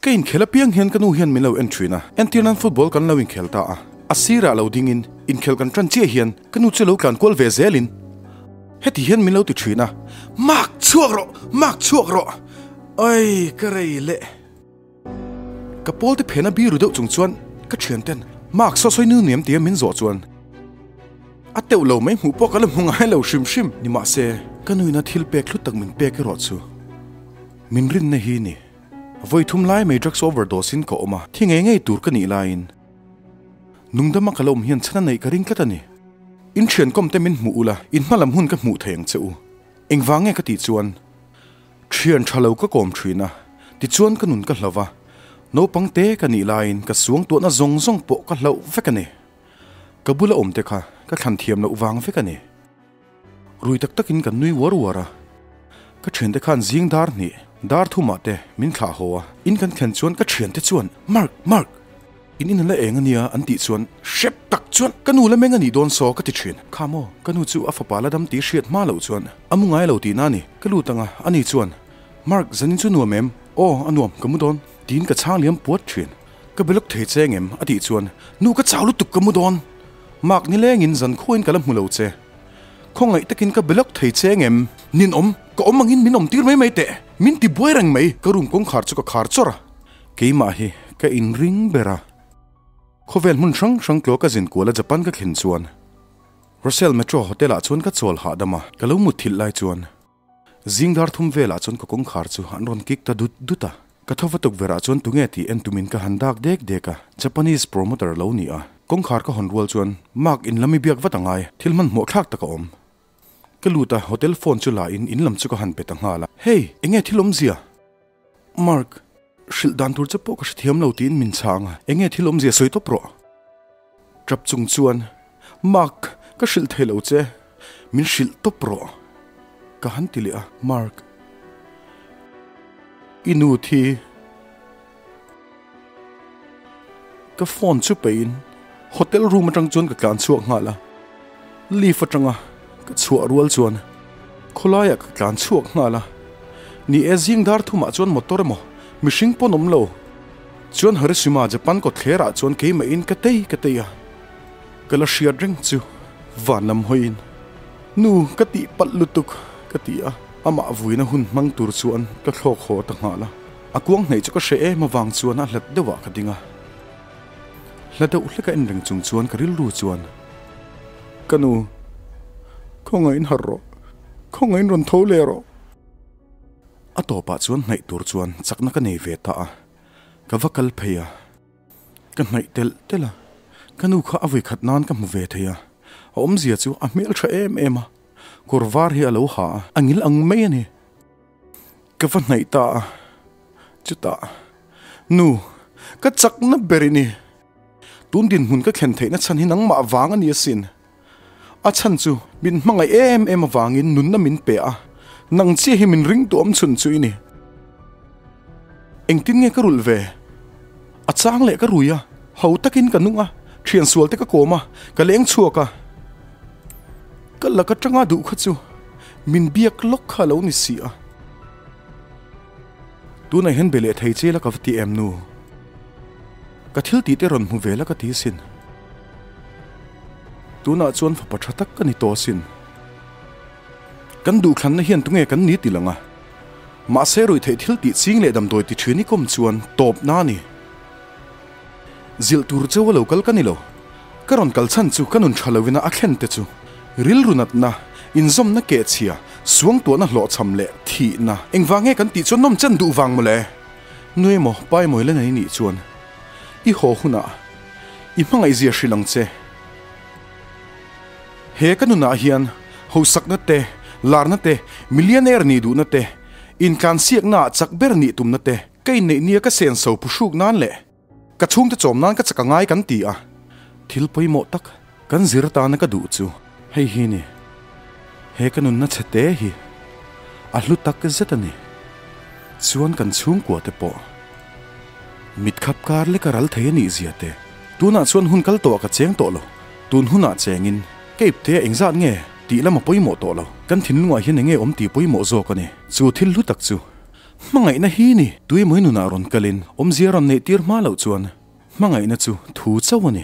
Ka inkhel apiang hian ka nu hian min lo en thin a, entir nan football kan lo inkhel ta a, a sirah lo dingin inkhel kan tan chiah hian ka nu chu a lo tlan kual ve zelin heti hian min lo ti thin a, Mak chhuak rawh! Mak chhuak rawh! Awii ka rei leh! Ka pawlte phena biru deuh chung chuan ka thianten mark sawi sawi nil niam tia min zawh chuan a teuh lo mai hmuh pawh ka la hmu ngai lo hrim hrim. Ni mah se ka nuina thil pek thlut tak min pek erawh chu min rinna hi ni. Vawi thum lai mai drugs overdose in ka awm a, thi ngei ngei tur ka nih laiin nungdam a ka la awm hian chhan a neih ka ring tlat a ni. In thiankawm te min hmuh ula in hma lam hun ka hmuh thei ang che u. Engvang nge ka tih chuan Thian tha lo ka kawm thin a, tichuan ka nun ka hlo va, naupang te ka nih laiin ka suangtuahna zawng zawng pawh ka hloh vek a ni. Ka bula awm te kha ka thlan thiam loh vang vek a ni. Rui tak takin kan nui uar uar a, ka thiante khan zing dar hnih, dar thumah te min thlah haw a, in kan thlen chuan ka thiante chuan Mark! Mark! In in la eng ania an tih chuan hrep tak chuan ka nu la meng anih dawn saw ka ti thin. Kha maw, ka nu chu a fapa la dam tih hriat hma loh chuan a mu ngai lo tih na ni. Ka lut anga a ni chuan Mark zanin chu nuam em? Aw a nuam ka mu dawn tiin ka chhang liam puat thin. Ka belawk thei che ngem a tih chuan nu ka chau lutuk ka mu dawn. Mark nilengin zan khuain ka la hmu lo che. Khaw ngaih takin ka belawk thei che ngem ninawm ka awm angin min awm tir mai mai teh min ti buai reng mai ka room kawngkhar chu ka khar chawr a. Keimah hi ka in ring ber a. Khawvel hmun hrang hrang tlua ka zin kual a Japan ka thlen chuan Russell Metro Hotel ah chuan ka chawl hahdam a, ka lo mutthilh lai chuan zingdar thum vel ah chuan ka kawngkhar chu an rawn kik ta dut dut a, ka tho va tuk ber ah chuan tunge tih en tumin ka han dak dek dek a, Japanese promoter lo ni a, kawngkhar ka hawn rual chuan Mark in lam i biak vat a ngai, thil hman hmuah thlak tak a awm. Ka lut a, hotel phone chu la in in lam chu ka han pe ta nghal a, Hey! Enge thil awmzia? Mark, Hrilh dan tur che pawh ka hre thiam lo tiin min chhah ang a, eng nge thil awmzia sawi tawp rawh. Trap chung chuan, Mark, ka hrilh thei lo che, min hrilh tawp rawh ka han ti leh a. Mark, I nu thi Ka phone chu peiin hotel room atang chuan ka tlan chhuak nghal a. Lift atanga ka chhuah rual chuan khawlaiah ka tlan chhuak nghal a. Ni e zing dar thumah chuan motor emaw mihring pawn awm lo. Chuan Harishima Japan kawtthlerah chuan keimahin ka tei ka tei a. Ka la hriat reng chu van lam hawiin, Nu ka tih palh lutuk ka ti a. Amah vuina hun hmang tur chuan ka thlawk haw ta nghal a. A kuang hnaih chu ka hre em avang chuan a hlat deuhah ka ding a. Hla deuh hlek a en reng chung chuan ka rilru chuan, Ka nu, khawngaih in harh rawh, khawngaih in rawn tho leh rawh. A tawpah chuan hnaih tur chuan chakna ka nei ve ta a, ka va kal phei a. Ka hnaih tel tel a, ka nu kha a voikhat nan ka hmu ve thei a, a awmzia chu a hmel tha em em a, kawr var hi a lo ha a, a ngil ang mai a ni. Ka va hnaih ta a, chutah, Nu, ka chakna ber i ni. Tun dinhmun ka thlen theihna chhan hi nangmah vang a ni asin. A chhan chu min hmangaih em em avangin nunna min pe a, nang chiah hi min ring tuam chhun chu i ni. Engtin nge ka rulh ve? A chang leh ka rui a, ho takin ka nung a, thian sual te ka kawm a, ka leng chhuak a. Ka lak atanga duh kha chu min biak lawk kha a lo ni si a. Tunah hian be leh thei che la ka va ti em nu? Ka thil tih te rawn hmu ve la ka ti sin. Tunah chuan fapa tha tak ka ni tawh sin. Kan duhthlanna hian tunge kan ni ti langa, mahse ruih theih thil tih ching leh damdawi ti thin ikawm chuan tawpna a ni. Zilh tur chu a lo kal ka ni lo, ka rawn kal chhan chu ka nun tha lo ina a thlen te chu rilru natna, inzawmna keh chhia, suangtuahna hlawhchham leh thihna engvang nge kan tih chuan nawm chen duh vang mawle. Nu emaw pa emaw ila nei nih chuan i haw hunah i hmangaihzia hrilh ang che. He ka nunah hian hausakna te, larna te, millionaire nih duhna te, intlansiakna ah chak ber nih tumna te, ka inneih nia ka senso pu hruk nan leh ka chhungte chawm nan ka chak a ngai kan ti a. Thil pawimawh tak kan zir tana ka duh chu hei hi a ni. He ka nunna chhe te hi a hlu tak zet a ni. Chuan kan chhungkua te pawh mit khap kar leka ral thei a nih zia te. Tunah chuan hun kal tawh a ka cheng tawh lo. Tun hunah chengin Cape te a engzat nge tih lam a pawimawh tawh lo. Kan thinlungah hian enge awm tih pawimawh zawk a ni. Chu thil hlu tak chu hmangaihna hi ni. Tuimawi nunah rawn kalin awmzia rawn neih tir hma loh chuan hmangaihna chu thu chauh a ni.